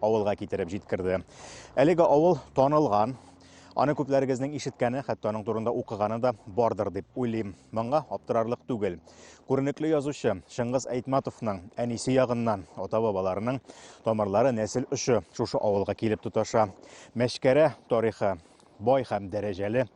авылга китереп җиткерде. Әлеге авыл танылган, аны күпләрегезнең ишеткәне, хәтта аның турында укыганы да бардыр дип уйлыйм. Моңа аптырарлык түгел. Күренекле язучы Шыңгыз Әйтматовның әнисе ягыннан ата-бабаларының тамырлары нәсел очы шушы авылга килеп тоташа. Мәшкәрә тарихы бай һәм дәрәҗәле.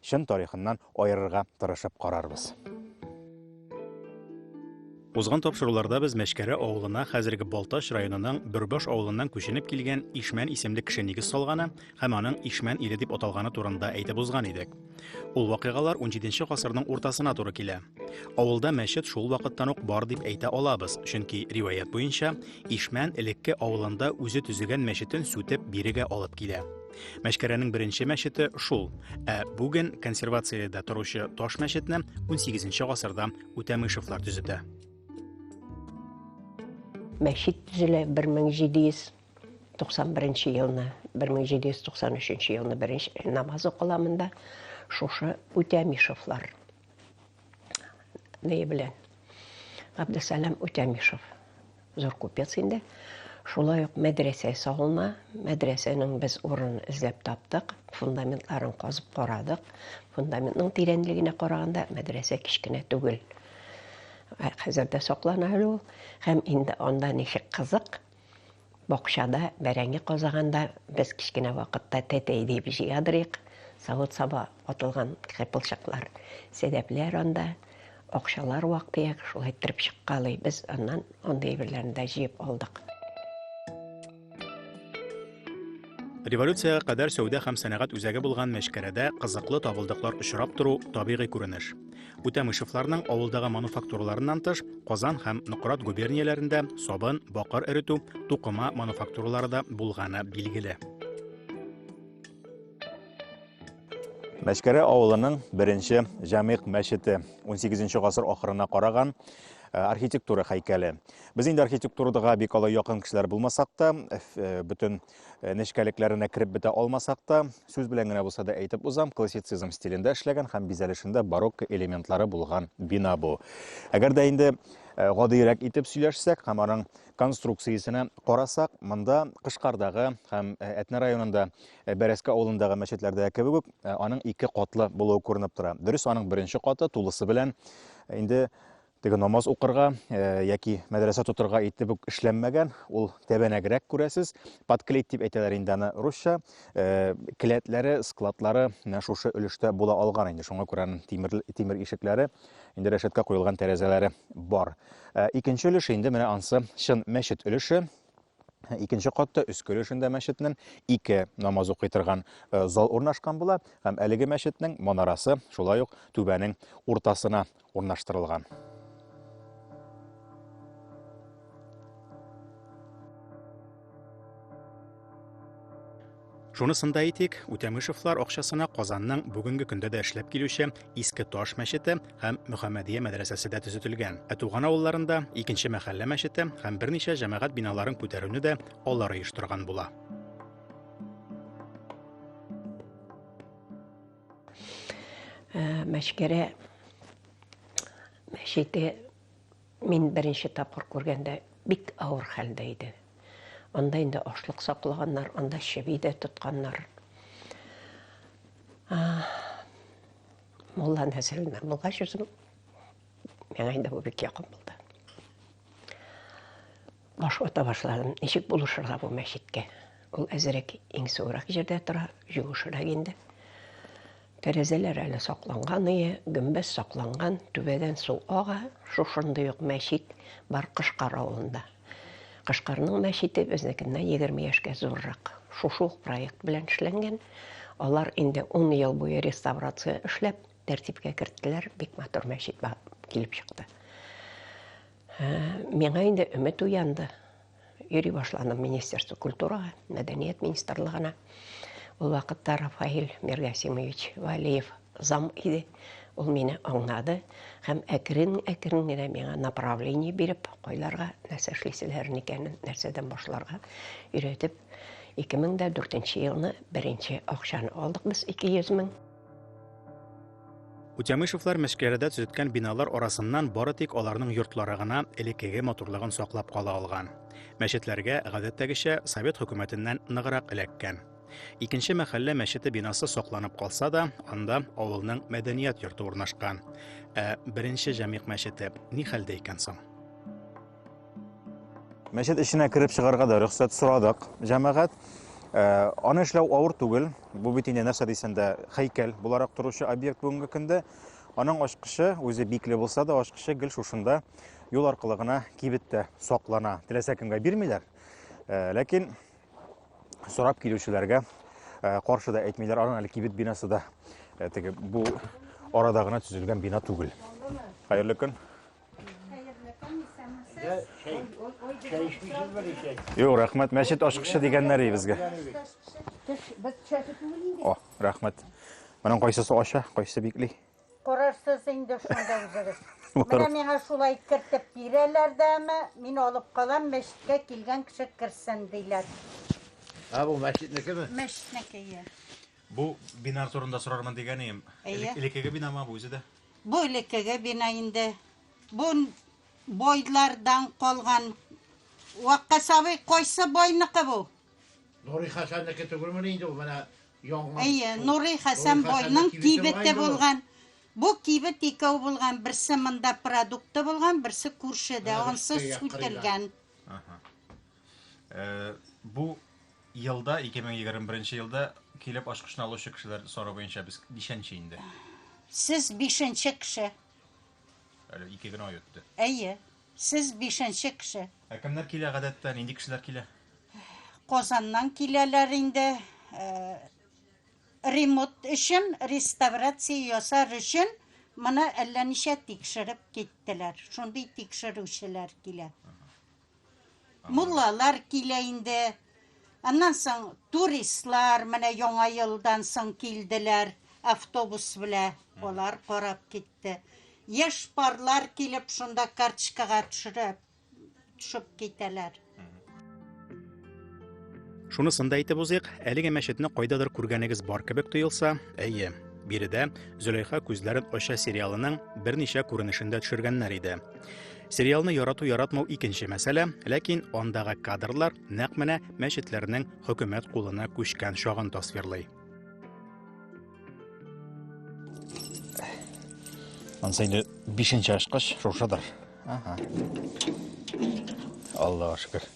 чын тарихыннан аерырга тырышып карарбыз. Узган тапшыруларда без Мәчкәрә авылына хәзерге Балтач районының Бөрбаш авылыннан күченеп килгән Ишмән исемле кеше нигез салганы һәм аның Ишмән иле дип аталганы турында әйтеп узган идек. Ул вакыйгалар 17 гасырның уртасына туры килә. Авылда мәчет шул вакыттан ук бар дип әйтә алабыз, чөнки риваять буенча Ишмән элекке авылында үзе төзегән мәчетен сүтеп бирегә алып килә. Мәшкәрәнең беренче мәчете шул, ә бүген консервациядә торучы таш мәчетне 18 гасырда Үтәмышевлар төзетә. Мәчет төзелә 1791 елны, 1793 елны беренче намаз укыла монда. Шушы Үтәмишевлар нее белән Габдесалам Утямишев зур купец инде. Шулай ук мәдрәсә салына. Мәдрәсәнең без урын эзләп таптык, фундаментларын казып карадык. Фундаментның тирәнлегенә караганда мәдрәсә кечкенә түгел. Хәзер дә саклана әле ул. Һәм инде анда ничек кызык, Бакчада бәрәңге казаганда без кечкенә вакытта тәтәй диеп җыядырыйк, савыт-саба атылган кыйпылчыклар, сәдәпләр анда, акчалар вак-төяк шулай иттереп чыккалый, без аннан андый әйберләрне дә җыеп алдык. Революциягә кадәр сәүдә һәм сәнәгать үзәге булган Мәчкәрәдә кызыклы табылдыклар очрап тору, табигый күренеш. Үтәмышевларның авылдагы мануфактураларыннан тыш, Казан һәм Нократ губернияләрендә сабын, бакыр эретү, тукыма мануфактуралары да булганы билгеле. Мәчкәрә авылының беренче Җамигъ мәчете 18 гасыр ахырына караган Э, архитектура һәйкәле. Без инде архитектурадага бик алай якын кешеләр булмасак та, э, бөтен э, нечкәлекләренә кереп бетә алмасак та, сүз белән генә булса да әйтеп узам, классицизм стилендә эшләгән һәм бизәлешендә барокко элементлары булган бина бу. Әгәр дә инде э, гадыйрәк итеп сөйләшсәк һәм аның конструкциясенә карасак, монда Кышкардагы һәм э, Әтнә районында Бәрәскә авылындагы мәчетләрдә кебек үк аның ике катлы булуы күренеп тора. Дөрес, аның беренче каты тулысы белән инде Теге намаз укырга яки мәдрәсә тотырга итеп үк эшләнмәгән, ул тәбәнәгрәк күрәсез. Подклейт дип әйтәләр инде аны русча. Келәтләре, складлары менә шушы өлештә була алган инде. Шуңа күрә тимер тимер ишекләре, инде рәшәткә куелган тәрәзәләре бар. Икенче өлеше инде менә ансы чын мәчет өлеше. Икенче катта өске өлешендә мәчетнең ике намаз укый торган зал урнашкан була һәм әлеге мәчетнең манарасы шулай ук түбәнең уртасына урнаштырылган. Шунысын да әйтик, Үтәмышевлар акчасына Казанның бүгенге көндә дә эшләп килүче Иске Таш мәчете һәм Мөхәммәдия мәдрәсәсе дә төзетелгән. Ә туган авылларында икенче мәхәллә мәчете һәм берничә җәмәгать биналарын күтәрүне дә алар оештырган була. Э, мәшкәрә мәчете мин беренче тапкыр күргәндә бик авыр хәлдә иде анда инде ашлык саклаганнар анда чеби дә тотканнар мулла нәселеннән булгач үзем Миңа инде бу бик якын булды. Баш ата башладым. Ничек булышырга бу мәчеткә? Ул әзерәк иң суырак җирдә тора, җуышырак инде. Тәрәзәләр әле сакланган ие, гөмбәз сакланган, түбәдән су ага, шушындый ук мәчет бар Кышкар авылында. Кышкарның мәчете безнекеннән 20 яшькә зуррак. Шушы ук проект белән эшләнгән. Алар инде 10 ел буе реставрация эшләп, Тәртипкә керттеләр, бик матур мәчет килеп чыкты. Миңа инде өмет уянды. Йөри башланым Министерство культурага, мәдәният министрлыгына. Ул вакытта Рафаил Миргасимович Валиев зам иде. Ул мине аңнады һәм әкрен-әкрен генә миңа направление биреп, кайларга нәрсә эшлисезләрен икәнен, нәрсәдән башларга өйрәтеп, 2004 елны беренче акчаны алдык без 200 мең. Утямышевлар Мәшкәрәдә төзеткән биналар арасыннан бары тик аларның йортлары гына элеккеге матурлыгын саклап кала алган. Мәчетләргә, гадәттәгечә, совет хөкүмәтеннән ныграк эләккән. Икенче мәхәллә мәчете бинасы сакланып калса да, анда авылның мәдәният йорты урнашкан. Ә беренче җәмигъ мәчете ни хәлдә икән соң? Мәчет эченә кереп чыгарга да рөхсәт сорадык, җәмәгать. Э, аны эшләү авыр түгел. Бу бит инде нәрсә дисәң дә һәйкәл буларак торучы объект бүгенге көндә. Аның ачкычы үзе бикле булса да, ачкычы гел шушында юл аркылы гына кибеттә саклана. Теләсә кемгә бирмиләр. Э, ләкин сорап килүчеләргә э, каршы да әйтмиләр. Аның әле кибет бинасы да теге бу арада гына төзелгән бина түгел. Хәерле көн. Юк, рәхмәт. Мәчет ачкычы дигәннәр и безгә. О, рәхмәт. Моның кайсысы ача, кайсы бикли? Карарсыз инде шунда үзегез. Менә миңа шулай кертеп бирәләр дәме, мин алып калам, мәчеткә килгән кеше керсен диләр. А бу мәчетнекеме? Мәчетнеке. Бу бинар турында сорармын дигән идем. Элекеге бинама бу үзе дә? Бу элеккеге бина инде. Бу бойлардан калган. Ваккас абый, кайсы бойныкы бу? Нурый Хәсәннеке түгелмени инде ул, менә яңа. Әйе, Нурый Хәсән бойның кибете булган. Бу кибет икәү булган, берсе монда продукты булган, берсе күршедә, ансы сүтелгән. Бу елда, 2021 елда килеп ашкышны алучы кешеләр сорау буенча без ничәнче инде? Сез бишенче кеше. Әле ике генә ай үтте. Әйе, сез бишенче кеше. Ә кемнәр килә гадәттә, нинди кешеләр килә? Казаннан киләләр инде. Э, ремонт өчен, реставрация ясар өчен моны әллә ничә тикшереп киттеләр. Шундый тикшерүчеләр килә. Муллалар килә инде. Аннан соң туристлар менә яңа елдан соң килделәр автобус белә. Алар карап китте. Яшь парлар килеп шунда карточкага төшереп төшеп китәләр. Шунысын да әйтеп узыйк, әлеге мәчетне кайдадыр күргәнегез бар кебек тоелса, әйе, биредә Зөләйха күзләрен ача сериалының берничә күренешендә төшергәннәр иде. Сериалны ярату яратмау икенче мәсьәлә, ләкин андагы кадрлар нәкъ менә мәчетләрнең хөкүмәт кулына күчкән чагын тасвирлый. Ансы инде бишенче ашкыш шушыдыр. Ага. Аллаһ шөкер.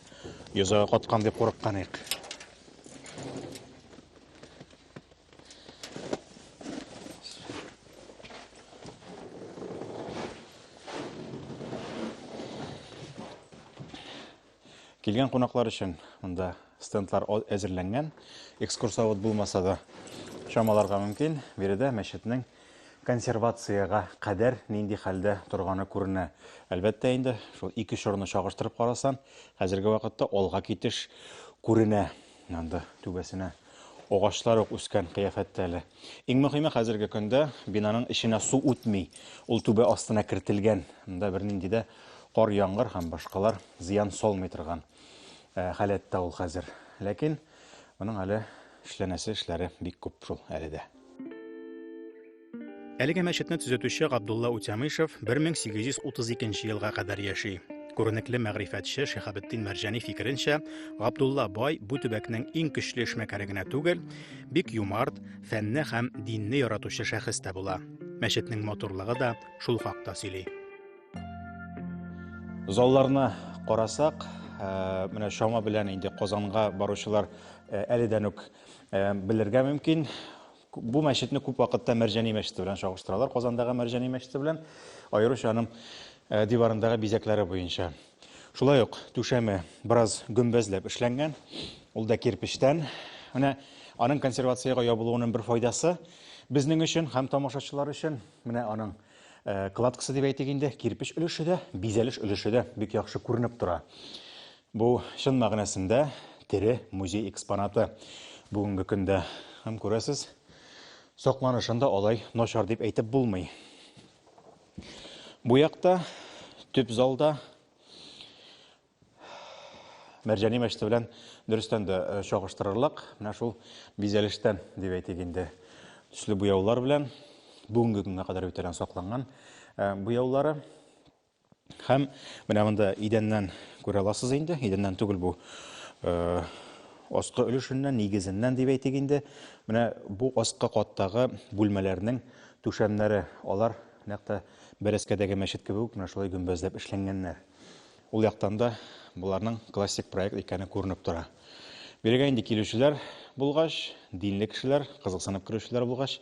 Йозага каткан дип курыккан ек. Килгән кунаклар өчен монда стендлар әзерләнгән. Экскурсовод булмаса да чамаларга мөмкин. Биредә мәчетнең Консервациягә кадәр нинди хәлдә торганы күренә. Әлбәттә инде, шул ике чорны чагыштырып карасаң, хәзерге вакытта алга китеш күренә. Анда түбәсенә агачлар ук үскән кыяфәттә әле. Иң мөһиме хәзерге көндә бинаның эченә су үтми. Ул түбә астына кертелгән. Монда бернинди дә кар, яңгыр һәм башкалар зыян салмый торган халәттә ул хәзер. Ләкин Моның әле эшләнәсе эшләре бик күп шул әле дә. Әлеге мәчетне төзетүче Габдулла Утямышев 1832 елга кадәр яши. Күренекле мәгърифәтче Шихабетдин Мәрҗани фикеренчә, Габдулла бай бу төбәкнең иң көчле эшмәкәре генә түгел, бик юмарт, фәнне һәм динне яратучы шәхес тә була. Мәчетнең матурлыгы да шул хакта сөйли. Залларына карасак, э, менә чама белән инде Казанга баручылар э, әледән үк э, белергә мөмкин. Бу мәчетне күп вакытта Мәрҗани мәчете белән чагыштыралар, Казандагы Мәрҗани мәчете белән, аеруча аның диварындагы бизәкләре буенча. Шулай ук түшәме бераз гөмбәзләп эшләнгән, ул да кирпечтән. Менә аның консервациягә ябылуының бер файдасы безнең өчен һәм тамашачылар өчен менә аның Э, кладкасы дип әйтик инде, кирпеч өлеше дә, бизәлеш өлеше дә бик яхшы күренеп тора. Бу чын мәгънәсендә тере музей экспонаты. Бүгенге көндә һәм күрәсез, сакланышын да алай начар дип әйтеп булмый. Бу якта төп залда Мәрҗани мәчете белән дөрестән дә э, чагыштырырлык. Менә шул бизәлештән дип әйтик инде. Төсле буяулар белән бүгенге көнгә кадәр битәрән сакланган э, буяулары. Һәм менә монда идәннән күрә аласыз инде. Идәннән түгел бу э, аскы өлешеннән, нигезеннән дип әйтик инде. Менә бу аскы каттагы бүлмәләрнең түшәмнәре, алар нәкъ бәрәскәдәге мәчет кебек үк менә шулай гөмбәзләп эшләнгәннәр. Ул яктан да боларның классик проект икәне күренеп тора. Бирегә инде килүчеләр булгач, динле кешеләр, кызыксынып керүчеләр булгач,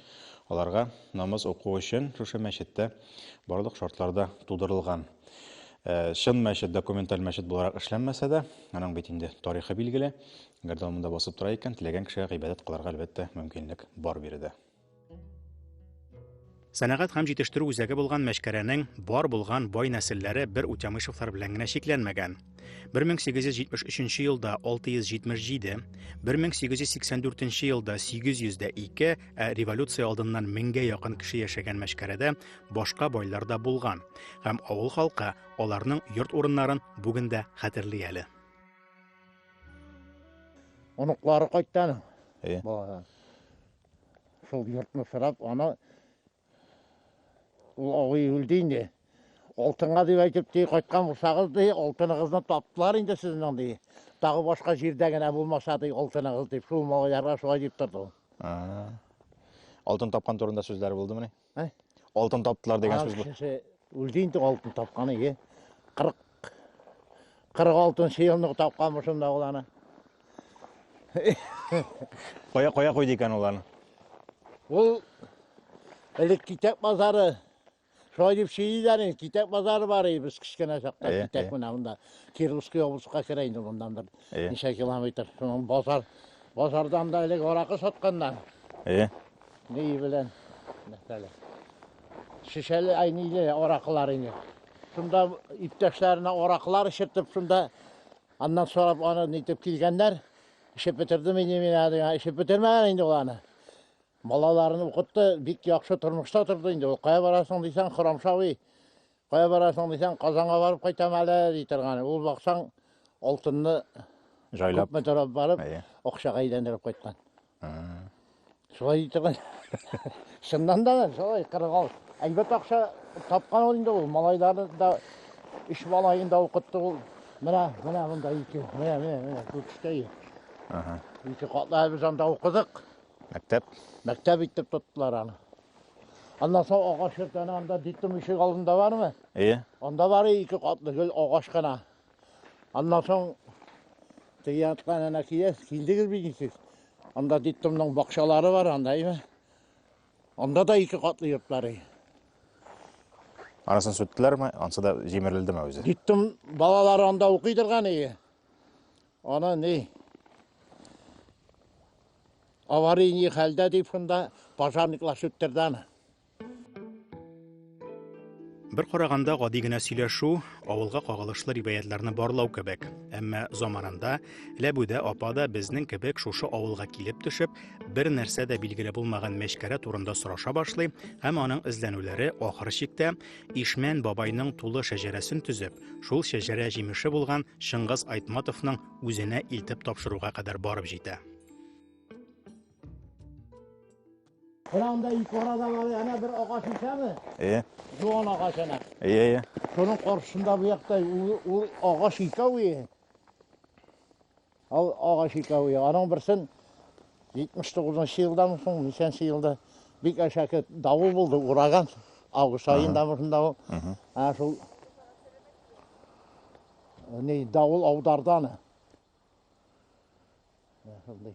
аларга намаз уку өчен шушы мәчеттә барлык шартлар да тудырылган. Э, чын мәчет, документаль мәчет буларак эшләнмәсә дә, аның бит инде тарихы билгеле. Әгәр дә ул монда басып тора икән, теләгән кешегә гыйбадәт кылырга, әлбәттә, мөмкинлек бар биредә. Сәнәгать һәм җитештерү үзәге булган Мәчкәрәнең бар булган бай нәселләре бер Утямышевлар белән генә чикләнмәгән. 1873 елда 677, 1884 елда 802, ә революция алдыннан 1000гә якын кеше яшәгән Мәчкәрәдә башка байлар да булган һәм авыл халкы аларның йорт урыннарын бүген дә хәтерли әле. Оныклары кайтты аның. Балалар. Шул йортны сорап, аны ул абый үлде инде. Алтынга дип әйтеп ди, кайткан булсагыз ди, алтыныгызны таптылар инде сезнең ди. Тагы башка җирдә генә булмаса ди алтыныгыз дип, шул малайларга шулай дип торды. Алтын тапкан турында сүзләр булдымыни? Ә? Алтын таптылар дигән сүз бу. Кеше үлде инде алтын тапканы, е. 40 46 елны тапканмы шунда ул аны. Кая кая койды икән ул аны? Ул элек китап базары Шулай дип сөйлиләр инде, китап базары бар иде без кечкенә чакта, китап менә монда. Кировский облыска керә инде мондан бер. Э. Ничә километр. Шуның базар. Базардан да элек аракы сатканнар. Э. Ней белән. Мәсәлә. Шешәле айниле аракылар инде. Шунда иптәшләренә аракылар эчертеп, шунда аннан сорап аны нитеп килгәннәр. Эчеп бетердем инде мин әле. Эчеп бетермәгән инде ул аны. Балаларын укытты, бик яхшы тормышта торды инде. Ул кая барасың дисәң, Хорамшавый Кая барасың дисәң, Казанга барып кайтам әле, ди торган. Ул баксаң, алтынны җайлап күпме торып барып, акчага әйләндереп кайткан. Шулай ди торган. Чыннан да шулай 46. Әлбәттә акча тапкан ул инде ул. Малайларны да өч малаен да укытты ул. Менә, менә монда ике. Менә, менә, менә күрсәтәй. Ага. Ике катлы без анда укыдык. Мәктәп. Мәктәп итеп тоттылар аны. Аннан соң агач ертаны анда диттем ишек алдында бармы? Әйе. Анда бар ике катлы гел агач кына. Аннан соң теге яттан әнә килә, килдегез бит ничек? Анда диттемнең бакчалары бар анда, әйме? Анда да ике катлы йортлары. Арасын сүттеләрме? Ансы да җимерелдеме үзе? Диттем, балалар анда укыйдырган ие. Аны ни аварий ни хәлдә дип шунда пожарниклар сүттерде аны. Бер караганда гади генә сөйләшү, авылга кагылышлы риваятларны барлау кебек. Әмма заманында Ләбүдә апа да безнең кебек шушы авылга килеп төшеп, бер нәрсә дә билгеле булмаган мәчкәрә турында сораша башлый һәм аның эзләнүләре ахыр чиктә Ишмән бабайның тулы шәҗәрәсен төзеп, шул шәҗәрә җимеше булган Чыңгыз Айтматовның үзенә илтеп тапшыруга кадәр барып җитә. Менә анда юкарадан аны әнә бер агач исәме? Әйе. Юан агач әнә. Әйе, әйе. Шуның каршында бу якта ул агач икәү ие. Ал агач икәве, аның берсен 79 нчы елдан соң, ничәнче елда бик әшәке давыл булды, ураган. Август айында шунда ул. Ә шул не давыл аудардан. Шундый.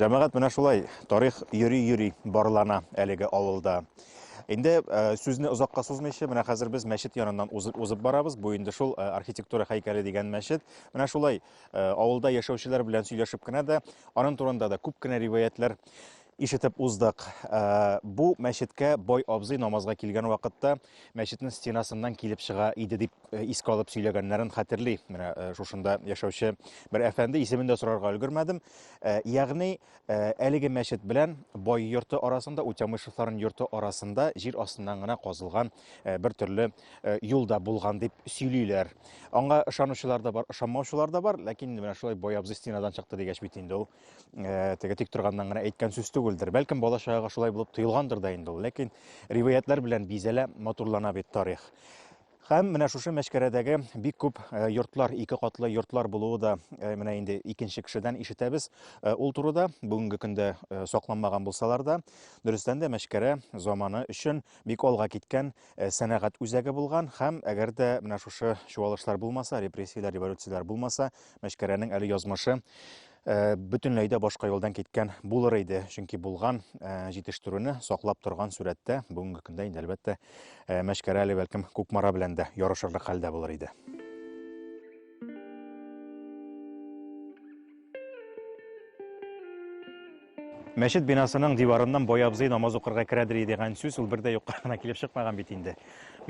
Җәмәгать менә шулай тарих йөри-йөри барлана әлеге авылда. Инде э, сүзне озакка сузмыйча, менә хәзер без мәчет яныннан узып, узып барабыз. Бу инде шул э, архитектура һәйкәле дигән мәчет. Менә шулай э, авылда яшәүчеләр белән сөйләшеп кенә дә, аның турында да күп кенә риваятләр Ишетеп уздык. Бу мәчеткә бай абзый намазга килгән вакытта мәчетнең стенасыннан килеп чыга иде дип искә алып сөйләгәннәрен хәтерли. Менә шушында яшәүче бер әфәнде исемен дә сорарга өлгермәдем. Ягъни әлеге мәчет белән бай йорты арасында, Утямышевларның йорты арасында җир астыннан гына казылган бер төрле юл да булган дип сөйлиләр. Аңа ышанучылар да бар, ышанмаучылар да бар, ләкин менә шулай бай абзый стенадан чыкты дигәч бит инде ул э, теге тик торганнан гына әйткән сүз түгелдер. Бәлкем бала чагага шулай булып тоелгандыр да инде ул. Ләкин риваятлар белән бизәлә, матурлана бит тарих. Һәм менә шушы мәшкәрәдәге бик күп э, йортлар, ике катлы йортлар булуы да э, менә инде икенче кешедән ишетәбез. Э, ул турыда бүгенге көндә сакланмаган булсалар да, дөрестән дә мәшкәрә заманы өчен бик алга киткән сәнәгать үзәге булган һәм әгәр дә менә шушы чуалышлар булмаса, репрессияләр, революцияләр булмаса, Мәшкәрәнең әле язмышы Э, бөтенләй дә башка юлдан киткән булыр иде. Чөнки булган э, җитештерүне саклап торган сурәттә бүгенге көндә инде әлбәттә э, Мәшкәрә әле бәлкем Кукмара белән дә ярышырлык хәлдә булыр иде. Мәчет бинасының диварыннан бай абзый намаз укырга керәдер дигән сүз ул бер дә юкка гына килеп чыкмаган бит инде.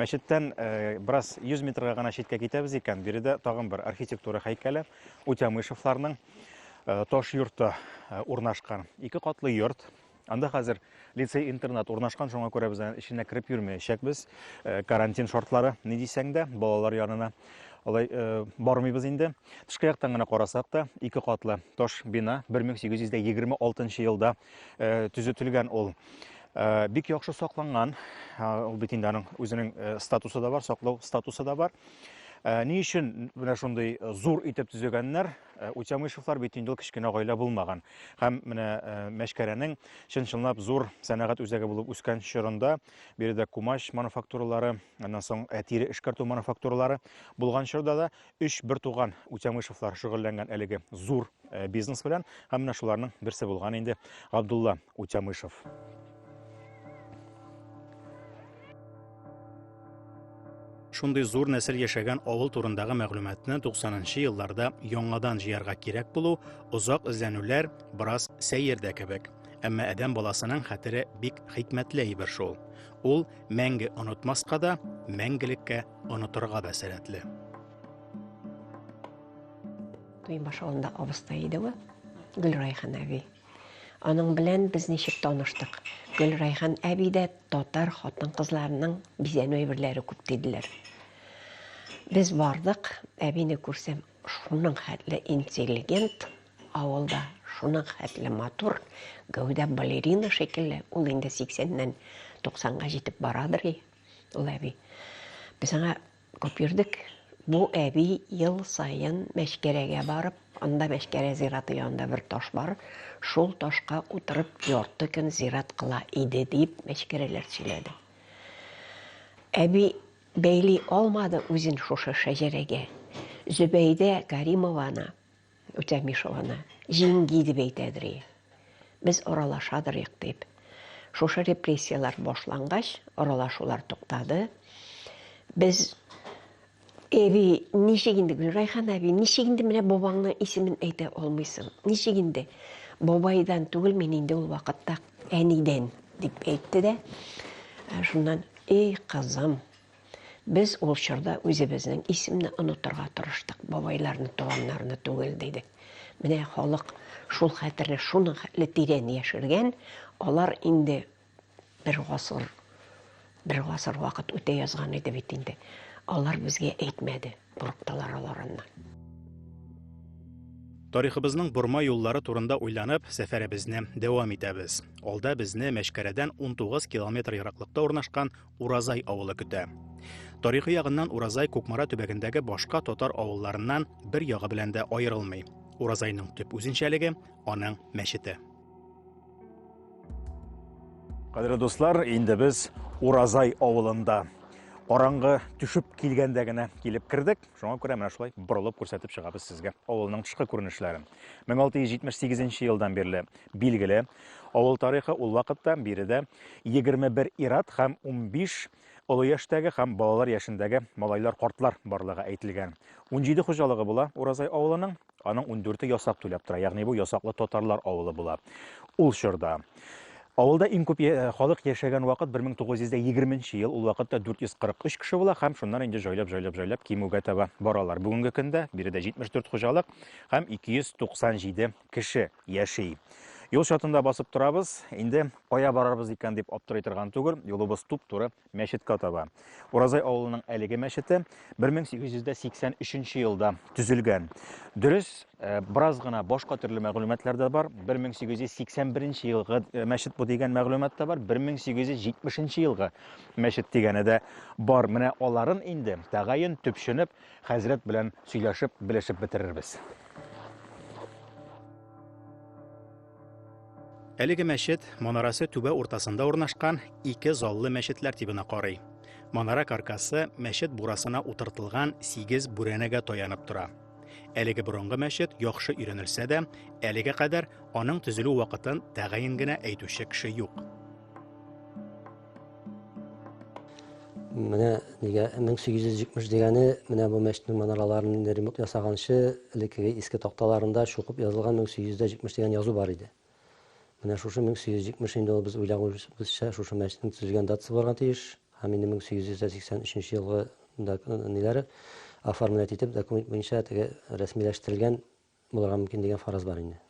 Мәчеттән э, бераз 100 метрга гына читкә китәбез икән, биредә тагын бер архитектура һәйкәле Утямышевларның э, таш йорты э, урнашкан. Ике катлы йорт. Анда хәзер лицей-интернат урнашкан, шуңа күрә без эченә кереп йөрмәячәкбез. Карантин шартлары, ни дисәң дә, балалар янына. Алай э, бармыйбыз инде. Тышкы яктан гына карасак та, ике катлы таш бина 1826 елда э, төзетелгән ул. Э, бик яхшы сакланган. Ул бит инде аның үзенең статусы да бар, саклау статусы да бар. Э, ни өчен менә шундый э, зур итеп төзегәннәр э, утямышевлар бит инде ул кечкенә гаилә булмаган һәм менә мәшкәрәнең чын чынлап зур сәнәгать үзәге булып үскән чорында биредә кумач мануфактуралары Аннан соң э, тире эшкәртү мануфактуралары булган чорда да өч бертуган Үтәмышевлар шөгыльләнгән әлеге зур э, бизнес белән һәм менә шуларның берсе булган инде Габдулла Үтәмышев. Шундый зур нәсел яшәгән авыл турындагы мәгълүматны 90-нчы елларда яңадан җыярга кирәк булу, озак эзләнүләр, бераз сәер дә кебек. Әмма адәм баласының хәтере бик хикмәтле әйбер шул. Ул мәңге онытмаска да, мәңгелеккә онытырга да сәләтле. Туймаш авылында абыстай иде ул, Гөлрайхан әби. Аның белән без ничек таныштык? Гөлрайхан әби дә татар хатын-кызларының бизәнү әйберләре күп диделәр. Без бардык, әбине күрсәм, шуның хәтле интеллигент, Авылда шуның хәтле матур, гәүдә балерина шикелле, ул инде 80-нән 90-га җитеп барадыр и, ул әби. Без аңа күп йөрдек. Бу әби ел саен Мәчкәрәгә барып, анда Мәчкәрә зираты янында бер таш бар, шул ташка утырып ярты көн зират кыла иде, дип мәчкәрәләр сөйләде. Әби бәйли алмады үзен шушы шәҗәрәгә. Зөбәйдә Каримованы Үтәмеш ул аны җиңги дип әйтәдер и. Без аралашадырыйк дип. Шушы репрессияләр башлангач, аралашулар туктады. Без Эби, ничек инде, Гөлрайхан әби, ничек инде менә бабаңның исемен әйтә алмыйсың? Ничек инде? Бабайдан түгел мин инде ул вакытта әнидән, дип әйтте дә. Шуннан, эй, кызым, Без ул чорда үзебезнең исемне онытырга тырыштык, бабайларны, туганнарны түгел, дидек. Менә халык шул хәтерне шуның хәтле тирән яшергән, алар инде бер гасыр, бер гасыр вакыт үтә язган иде бит инде. Алар безгә әйтмәде. Курыктылар алар аннан. Тарихыбызның борма юллары турында уйланып, сәфәребезне дәвам итәбез. Алда безне Мәшкәрәдән 19 километр ераклыкта урнашкан Уразай авылы көтә. Тарихи ягыннан Уразай Кукмара төбәгендәге башка татар авылларыннан бер ягы белән дә аерылмый. Уразайның төп үзенчәлеге аның мәчете. Кадерле дуслар, инде без Уразай авылында караңгы төшеп килгәндә генә килеп кердек. Шуңа күрә менә шулай борылып күрсәтеп чыгабыз сезгә авылның тышкы күренешләрен. 1678 елдан бирле билгеле авыл тарихы ул вакытта биредә 21 ират һәм 15 олы яшьтәге һәм балалар яшендәге малайлар-картлар барлыгы әйтелгән. 17 хуҗалыгы була Уразай авылының. Аның ундүрте ясак түләп тора, ягъни бу ясаклы татарлар авылы була. Ул чорда Авылда иң күп э, халык яшәгән вакыт 1920 ел, ул вакытта 443 кеше була һәм шуннан инде җайлап-җайлап-җайлап кимүгә таба баралар. Бүгенге көндә биредә 74 хуҗалык һәм 297 кеше яши. Юл чатында басып торабыз, инде кая барарбыз икән дип аптырый торган түгел, юлыбыз туп-туры мәчеткә таба. Уразай авылының әлеге мәчете 1883 нче елда төзелгән. Дөрес, э, бераз гына башка төрле мәгълүматлар да бар. 1881 елгы э, мәчет бу дигән мәгълүмат та бар, 1870 елгы мәчет дигәне дә бар. Менә аларын инде тәгаен төпченеп, хәзрәт белән сөйләшеп, белешеп бетерербез. Әлеге мәчет манарасы түбә уртасында урнашкан ике заллы мәчет тәртибенә карый. Манара каркасы мәчет бурасына утыртылган сигез бүрәнәгә таянып тора. Әлеге борынгы мәчет яхшы өйрәнелсә дә, әлегә кадәр аның төзелү вакытын тәгаен генә әйтүче кеше юк. Менә нигә 1870 дигәне, менә бу мәчетнең манараларын инде ремонт ясаганчы, элеккеге иске такталарында чукып язылган 1870 дигән язу бар иде. Менә шушы 1870 инде ул без уйлагыбызча шушы мәчетнең төзелгән датасы булырга тиеш. Һәм инде 1883 елгы да ниләре оформлять итеп документ буенча теге рәсмиләштерелгән булырга мөмкин дигән фараз бар инде.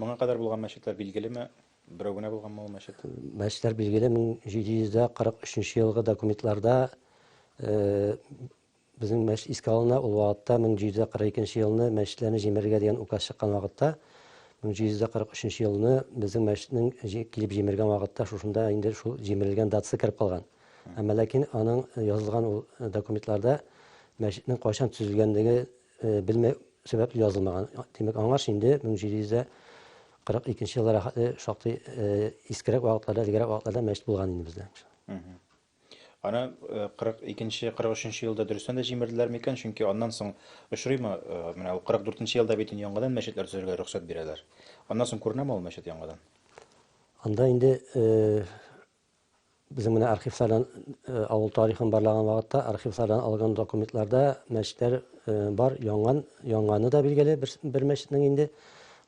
Моңа кадәр булган мәчетләр билгелеме? Берәү генә булганмы ул мәчет? Мәчетләр билгеле 1743 елгы документларда э, безнең мәчет искә алына, ул вакытта 1742 елны мәчетләрне җимерергә дигән указ чыккан вакытта 1743 елны безнең мәчетнең килеп җимергән вакытта шушында инде шул җимерелгән датасы кереп калган. Әмма ләкин аның язылган ул документларда мәчетнең кайчан төзелгәнлеге э, белмәү сәбәпле язылмаган. Димәк, аңлаш инде 1742 елда рәхәтле шактый э, искерәк вакытларда, элегрәк вакытларда мәчет булган инде бездә. Аны 42-нче, 43-нче елда дөрестән дә җимерделәр микән? Чөнки аннан соң очрыймы, э, менә ул 44-нче елда бит яңадан мәчетләр төзергә рөхсәт бирәләр. Аннан соң күренәме ул мәчет яңадан? Анда инде э, Безнең менә архивлардан авыл тарихын барлаган вакытта архивлардан алган документларда мәчетләр бар, янган, янганы да билгеле бер, бер мәчетнең инде.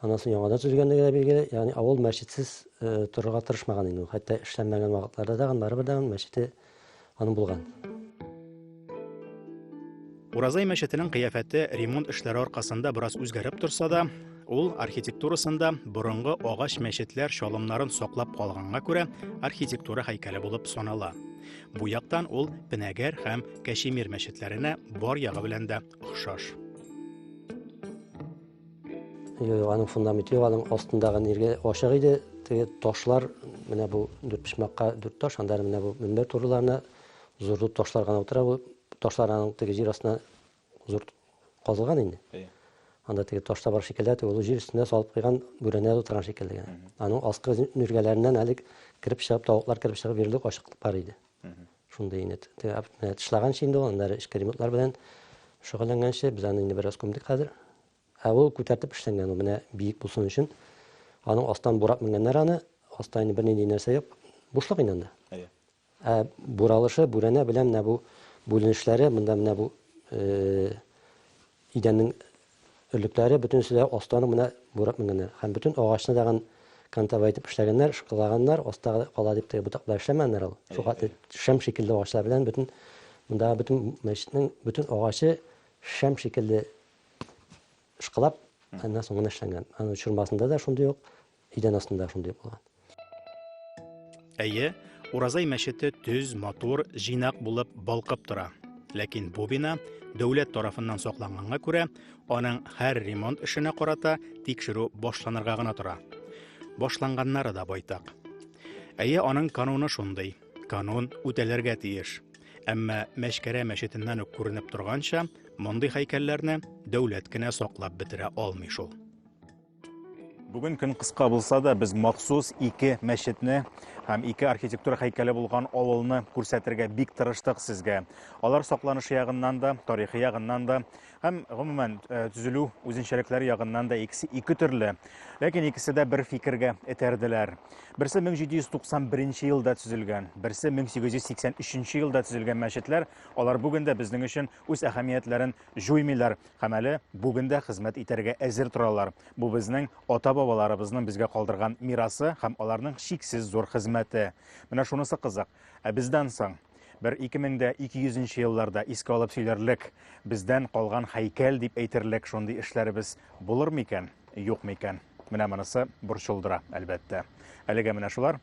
Аннан соң яңадан төзелгәнлеге дә билгеле. Ягъни авыл мәчетсез торырга тырышмаган инде. Хәтта эшләнмәгән вакытларда да барыбер дә мәчете Аның булган. Уразай мәчетенең кыяфәте ремонт эшләре аркасында бераз үзгәреп торса да, ул архитектурасында борынгы агач мәчетләр чалымнарын саклап калганга күрә архитектура һәйкәле булып санала. Бу яктан ул Пенәгәр һәм Кәшемир мәчетләренә бар ягы белән дә охшаш. Юк, аның фундаменты юк, аның астындагы ниргә ачык иде. Теге ташлар, менә бу дүрт почмакка дүрт таш, анда менә бу мөнбәр турыларына зур зур ташлар гына утыра. Бу ташлар аның теге җир астына зур казылган инде. Э. Анда теге таш табар шикелле, теге олы җир өстенә салып куйган бүрәнә утырган шикелле. Аның аскы ниргәләреннән әле кереп чыгып, тавыклар кереп чыгып йөрерлек ачыклык бар иде. Шундый инде тышлаганчы инде ул, аннары эчке ремонтлар белән шөгыльләнгәнче, без аны инде бераз күмдек хәзер. Ә ул күтәртеп эшләнгән, ул менә биек булсын өчен. Аның астан бурап менгәннәр аны, аста инде бернинди нәрсә юк, бушлык инде анда. Әйе. Ә буралышы, бүрәнә белән менә бу бүленешләре, монда менә бу Идәннең өрлекләре бөтенесе дә астан ук менә бурап менгәннәр. Һәм бөтен агачны тагын кантовая итеп эшләгәннәр, ышкылаганнар, аста кала дип теге ботаклар эшләмәгәннәр ул. Шул хәтле шәм шикелле агачлар белән бөтен мондагы бөтен мәчетнең бөтен агачы шәм шикелле ышкылап, аннан соң гына эшләнгән. Аның чормасында да шундый ук Идән астында шундый булган. Әйе, Уразай мәчете төз, матур, җыйнак булып балкып тора. Ләкин бу бина дәүләт тарафыннан сакланганга күрә, аның һәр ремонт эшенә карата тикшерү башланырга гына тора. Башланганнары да байтак. Әйе, аның кануны шундый. Канун үтәлергә тиеш. Әмма Мәшкәрә мәчетеннән үк күренеп торганча, мондый һәйкәлләрне дәүләт кенә саклап бетерә алмый шул. Бүген көн кыска булса да, без махсус ике мәчетне һәм ике архитектура һәйкәле булган авылны күрсәтергә бик тырыштык сезгә. Алар сакланышы ягыннан да, тарихи ягыннан да һәм гомумән э, төзелү үзенчәлекләре ягыннан да икесе ике төрле. Ләкин икесе дә бер фикергә этәрделәр. Берсе 1791 елда төзелгән, берсе 1883 елда төзелгән мәчетләр, алар бүген дә безнең өчен үз әһәмиятләрен җуймыйлар һәм әле бүген дә хезмәт итәргә әзер торалар. Бу безнең ата-бабаларыбызның безгә калдырган мирасы һәм аларның чиксез зур хезмәте. Менә шунысы кызык, ә бездән соң? Бер 2200 нче елларда искә алып сөйләрлек, бездән калган һәйкәл дип әйтерлек шундый эшләребез булырмы икән, юкмы икән? Менә монысы борчылдыра, әлбәттә. Әлегә менә шулар.